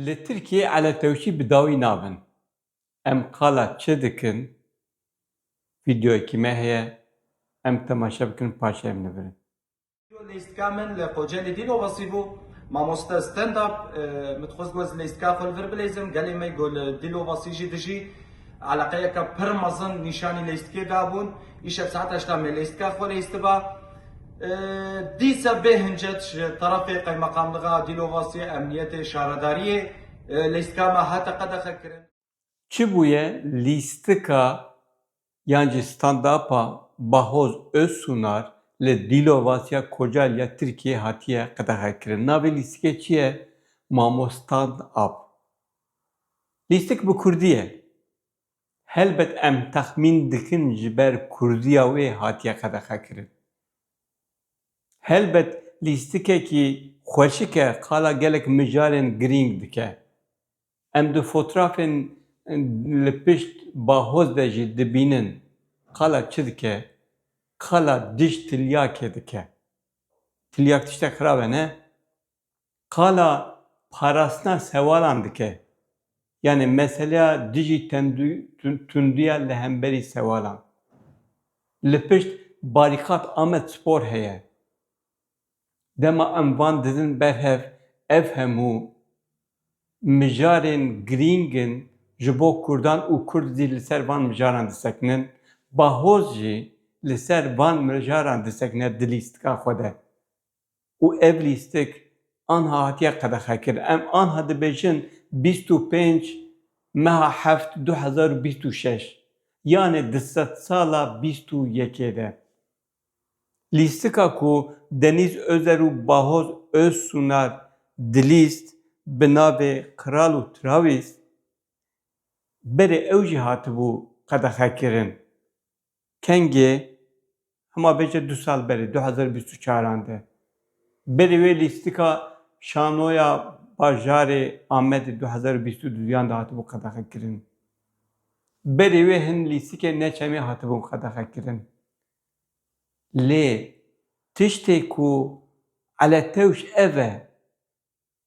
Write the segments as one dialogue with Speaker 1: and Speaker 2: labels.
Speaker 1: Li Tirkiyê eletewşî bi dawî nabin. Em qala çi dikin? Vîdeoyekî me heye, em temaşe bikin paşê em nivirin. Lîstka
Speaker 2: min li Kocelî dîn û xwesî bû. Mamoste stand up min dixwest ku ez lîstka xwe li vir bileyzim. Gelê me ku li dîl û xwesî jî dijî eleqeyeke pir mezin nîşanî lîstkê dabûn. Îşev saeta heşt a me lîstka xwe lîstiba. Dîsa bê hincet ji terefê Qeymeqamliga Dîlovasiyê, Emniyetê, Şaredariyê lîstkama hate qedexe kirin. Çi bûye
Speaker 1: lîstika yan jî standapa Bahoz Özsunar li Dîlovasiya Kocaeli ya Tirkiyeyê hatiye qedexe kirin. Navê lîstikê çi ye? Mamo Stand Up. Lîstik bi kurdî ye. Helbet em texmîn dikin ji ber kurdîya wê hatiye qedexe kirin. Helbet lîstikekî xweşik e qala gelek mijarên girîng dike. Em di fotrafên li pişt bahoz de jî dibînin qala çi dike? Qala dij tilyakê dike. Tilyak tiştek xirab e ne? Qala parastina sewalan dike. Yanî meseleya dijî tundiya li hemberî sewalan. Li pişt Barîkat Amed Spor heye. Dema em van didin ber hev ev hemû mijarên girîng in ji bo kurdan û kurd jî li ser van mijaran disekinin. Bahoz jî li ser van mijaran disekine di lîstika xwe de. û ev lîstik anha hatiye qedexekirin. Em anha dibêjin bîst û pênc meha heft du hezar û bîst û şeş yanê di sedsala bîst û yekê de. Lîstika ku Denîz Özer û Bahoz Özsunar dilîst bi navê Kral û Travîst berê ew jî hatibû qedexekirin. Kengê, hema bêje du sal berê, du hezar û bîst û çar an de berê wê lîstika şanoya bajarê Amedê du hezar û bîst û du yan de hatibû qedexekirin. Berê wê hin lîstikên neçemê hatibûn qedexekirin. Lê tiştê ku eletewş ev e.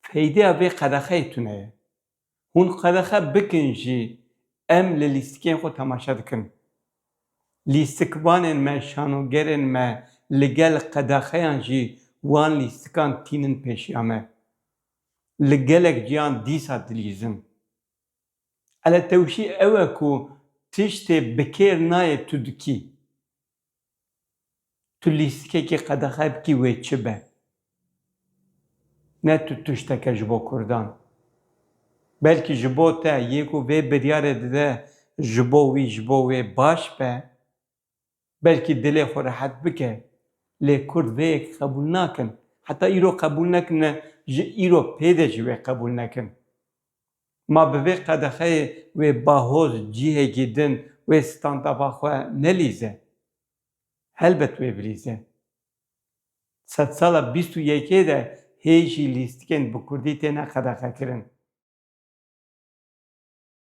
Speaker 1: Feydeya vê qedexeyê tune ye. Hûn qedexe bikin jî em li lîstikên xwe temaşe dikin. Lîstikvanên me, şanogerên me li gel qedexeyan jî wan lîstikan tînin pêşiya me. Li gelek ciyan dîsa dilîzin. Eletewşî ew e ku tiştê bi kêr nayê tu dikî. Tu lîstikekî qedexe bikî wê çi be. Ne tu tişteke ji bo kurdan. Belkî ji bo te yê ku vê biryarê dide ji bo wî ji bo wê baş be. Belkî dilê xwe rehet bike. Lê kurd vê yekê qebûl nakin. Heta îro qebûl nekirine ji îro pê de jî wê qebûl nekin. Ma bi vê qedexeyê wê bahoz cihekî din wê standava xwe nelîze? Helbet wê bilîze. Sedsala bîst û yekê de hê jî lîstikên bi kurdî têne qedexekirin.